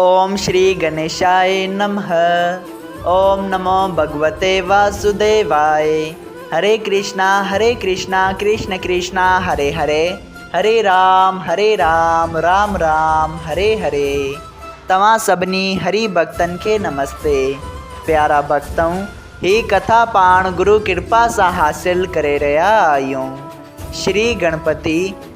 اوم شري گنيشائي نمه اوم نمو ڀڳوتي واسوديوائي هري ڪرشنا هري ڪرشنا ڪرشن ڪرشنا هري هري هري رام هري رام رام رام هري هري توهان سڀني هري ڀڳتن کي نمستي پيارا ڀڳتؤن هي ڪٿا پاڻ گرو ڪرپا سان حاصل ڪري رهيا آهيون شري گڻپتي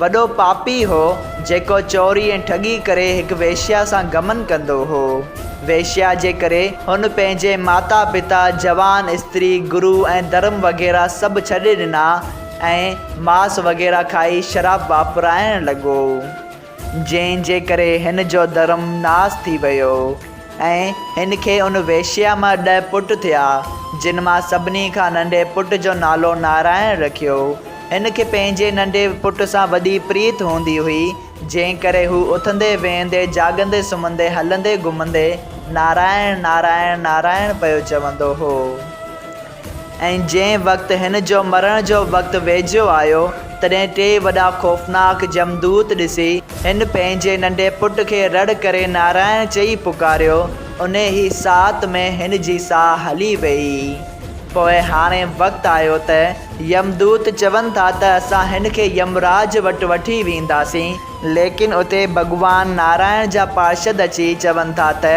وڏو پاپي هو، جيڪو چوري ۽ ٺڳي ڪري هڪ ويشيا سان گمن ڪندو هو. ويشيا جي ڪري هن پنهنجي ماتا پتا، جوان استري، گرو ۽ ڌرم وغيره سڀ ڇڏي ڏنا ۽ ماس وغيره کائي شراب واپرائڻ لڳو، جنهن جي ڪري هن جو ڌرم ناس ٿي ويو. ۽ هن کي ان ويشيا مان ڏهه پٽ ٿيا، جن مان سڀني کان ننڍي پٽ جو نالو نارائڻ رکيو. هن کي پنهنجي ننڍي پٽ سان وڏي پريت هوندي هئي، جنهن ڪري هو اٿندي ويهندي، جاڳندي سمهندي، هلندي گهمندي نارائڻ، نارائڻ، نارائڻ پيو چوندو هو. ۽ جنهن وقت هن جو مرڻ جو وقت ويجهو آيو، تڏهن ٽي وڏا خوفناڪ جمدوت ڏسي، هن پنهنجي ننڍي پٽ کي رڙ ڪري نارائڻ چئي پڪاريو، انهي ئي ساعت ۾ هن جي ساهه هلي ويئي. پوء هاڻي وقت آيو ته يمدوت چون ٿا ته اسان هن کي يمراج وٽ وٺي وينداسين، ليڪن اتي ڀڳوان نارائڻ جا پارشد اچي چون ٿا ته،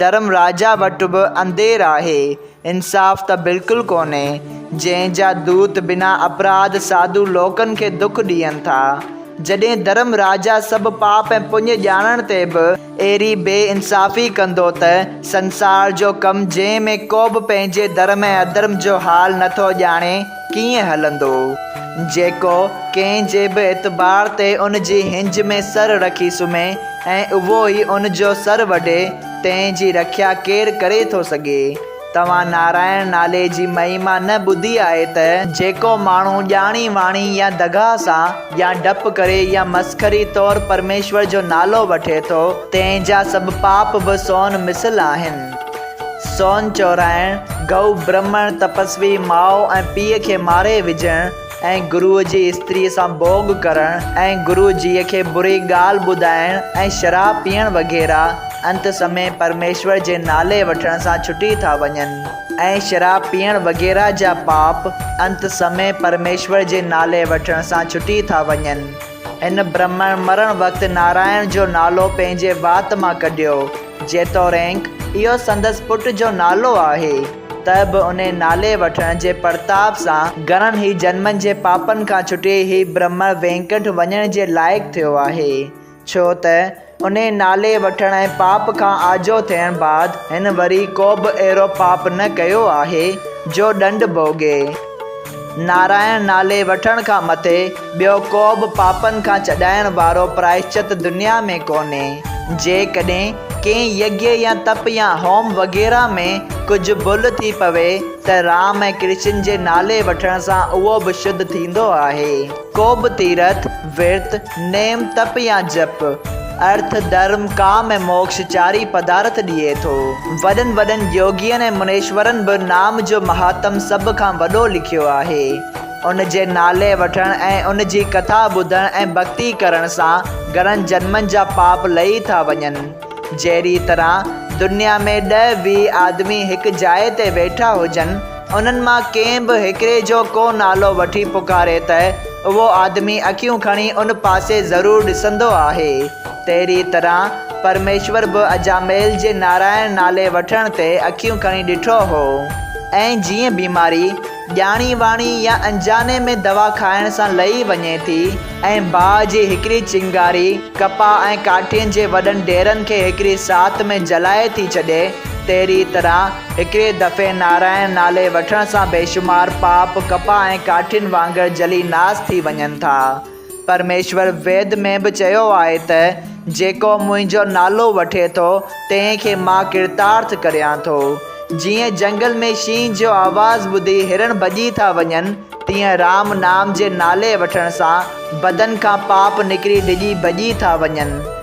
ڌرم راجا وٽ به اندير آهي، انصاف ته بلڪل ڪونهي، جنهن جا دوت بنا اپراڌ ساڌو لوڪن کي دک ڏين ٿا، جڏهن ڌرم راجا سڀ پاپ ۽ پڃ ڄاڻڻ تي به اهڙي بي انصافي ڪندو ته سنسار جو ڪم جنهن ۾ ڪوبه پنهنجي ڌرم ۽ اڌرم جو حال نٿو ڄاڻي، ڪيئن هلندو، جيڪو ڪنهن جي به اعتبار تي ان جي هنج ۾ سر رکي سمهي ۽ اهو ئي ان جو سر وڍي، تنهن جي رکيا ڪير ڪري ٿو سگهي؟ توهان نارائڻ نالي جي مهيما نه ٻڌي آهي ته. جيڪو ماڻهو ڄاڻي واڻي يا دغا سان يا ڊپ ڪري يا مسخري طور پرميشور جو نالو وٺي ٿو، تنهن جا سڀ پاپ به سون مثل آهن. سون چورائڻ، گئو برهمڻ تپسوي ماء ۽ پيء کي ماري وجهڻ ۽ گروء جي استريء سان ڀوڳ ڪرڻ ۽ گروء جيء کي بري ڳالهه ٻڌائڻ ۽ شراب پيئڻ وغيره انت سمي پرميشور جي نالي وٺڻ سان ڇٽي ٿا وڃن ۽ شراب پيئڻ وغيره جا پاپ انت سمي پرميشور جي نالي وٺڻ سان ڇٽي ٿا وڃن. هن برهمڻ مرڻ وقت نارائڻ جو نالو پنهنجي وات مان ڪڍيو. جيتوڻيڪ اهو سندس پٽ جو نالو آهي، ته به انهي نالي وٺڻ جي پرتاپ سان گهڻن ئي جنمن جي پاپن کان ڇٽي هي برهمڻ وينڪنٺ وڃڻ جي لائق ٿيو آهي، ڇو ته انهيء نالي وٺڻ ۽ پاپ کان آجو ٿيڻ بعد هن وري ڪوبه اهڙو پاپ نه ڪيو آهي جو ڏنڊ ڀوڳي. نارائڻ نالي وٺڻ کان مٿي ٻيو ڪوبه پاپن کان ڇڏائڻ وارو پرائشچت دنيا ۾ ڪونهي. جيڪڏهن ڪنهن يگيء يا تپ يا هوم وغيره ۾ ڪجهه ڀل ٿي پوي ته رام ۽ ڪرشن جي نالي وٺڻ سان اهو به شڌ ٿيندو آهي. ڪو به تيرٿ، ورت، نيم، تپ يا جپ، ارٿ، ڌرم، ڪام ۽ موڪش چارئي پدارٿ ڏئي ٿو. وڏن وڏن يوگين ۽ منيشورن به نام جو مهاتم سڀ کان وڏو لکيو آهي. ان جي نالي وٺڻ ۽ ان جي ڪٿا ٻڌڻ ۽ ڀڳتي ڪرڻ سان گهڻن جنمن جا پاپ لهي ٿا وڃن. جهڙيء طرح دنيا ۾ ڏهه ويهه آدمي هڪ جاء تي ويٺا هجن، انهن مان ڪنهن به هڪڙي جو ڪو نالو وٺي پڪاري ته اهو آدمي اکيون کڻي ان پاسي ضرور ڏسندو آهي، تهڙيء طرح پرميشور به اجاميل جي نارائڻ نالي وٺڻ تي اکيون کڻي ڏٺو هو ۽ جيئن بيماري. ڄاڻي واڻي يا انجاني ۾ دوا کائڻ سان لهي وڃي ٿي ۽ باهه جي هڪڙي چنگاري ڪپاهه ۽ ڪاٺين جي وڏن ڍيرن کي هڪڙي ساعت ۾ جلائي ٿي ڇڏي، تهڙيء طرح هڪڙي دفعي نارائڻ نالي وٺڻ سان بيشمار پاپ ڪپاهه ۽ ڪاٺين وانگر جلي ناس ٿي وڃن ٿا. پرميشور ويد ۾ به چيو آهي ته، جيڪو منهنجو نالو وٺي ٿو، تنهن کي مان ڪرتارٿ ڪريان ٿو. جيئن جهنگل ۾ شينهن جو آواز ٻڌي هرڻ ڀڄي ٿا وڃن، تيئن رام نام جي نالي وٺڻ سان بدن کان پاپ نڪري ڊڄي ڀڄي ٿا وڃن.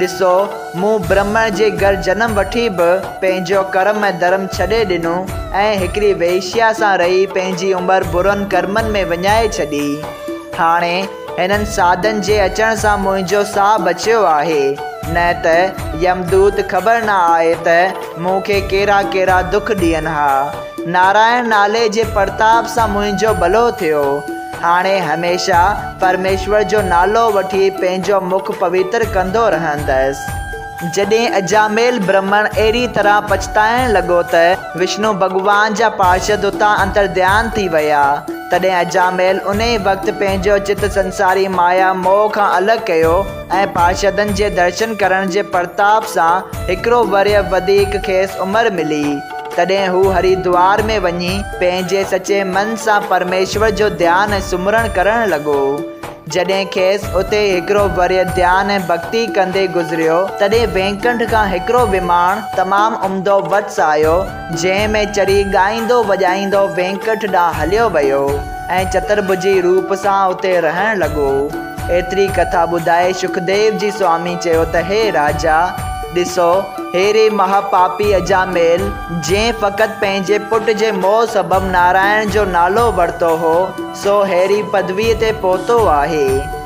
ڏسو، مون برهمڻ جي گهر جنم وٺي به پنهنجو ڪرم ۽ ڌرم ڇڏي ڏنو ۽ هڪڙي وئيشيا سان رهي پنهنجي عمر برن ڪرمن ۾ وڃائي ڇڏي. هاڻي هنن ساڌن جي اچڻ سان منهنجو ساهه بچيو آهي، نه ته يمدوت خبر نه آهي ته مون کي ڪهڙا ڪهڙا دک ڏين ها. نارائڻ نالي جي پرتاپ سان منهنجو ڀلو ٿيو. هاڻي هميشه پرميشور جو نالو وٺي پنهنجو مک پويتر ڪندو رهندس. جڏهن اجاميل برهمڻ اهڙي طرح پڇتائڻ لڳو ته وشنو ڀڳوان جا پارشد اتان انترڌيان ٿي ويا، تڏهن اجاميل انهي وقت پنهنجو چت سنساري مايا موهه کان الڳ ڪيو، ۽ پارشدن جي درشن ڪرڻ جي پرتاپ سان هڪڙو ورهيه وڌيڪ کيس عمر ملي، تڏهن هو هريدوار ۾ وڃي پنهنجي سچي من سان پرميشور جو ڌيان ۽ سمرڻ ڪرڻ لڳو. جڏهن کيس اتي هڪڙو ورهيه ڌيان ۽ ڀڳتي ڪندي گذريو، تڏهن وينڪنٺ کان هڪڙو وماڻ تمام عمدو وٽس آيو، جنهن ۾ چري ڳائيندو وڄائيندو وينڪٽ ڏانهن هليو ويو ۽ چترڀجي روپ سان اتي رهڻ لڳو. ايتري ڪٿا ٻڌائي شڪديو جي سوامي چيو ته هي راجا! ڏسو، هيري مها پاپي اجاميل، جنهن فقط پنهنجي پٽ جي موهه سبب نارائڻ جو نالو ورتو هو، سو هيري پدويء تي پهتو آهي.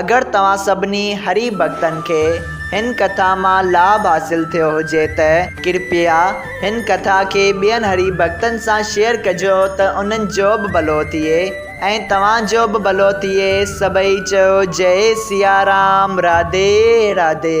اگر توهان سڀني هري ڀڳتن کي هن ڪٿا مان لاڀ حاصل ٿيو هجي ته ڪرپيا هن ڪٿا کي ٻين هري ڀڳتن سان شيئر ڪجو ته انهن جو به ڀلو ٿئي ۽ توهان جو به ڀلو ٿئي سڀئي چيو جئي سيارام راڌي راڌي.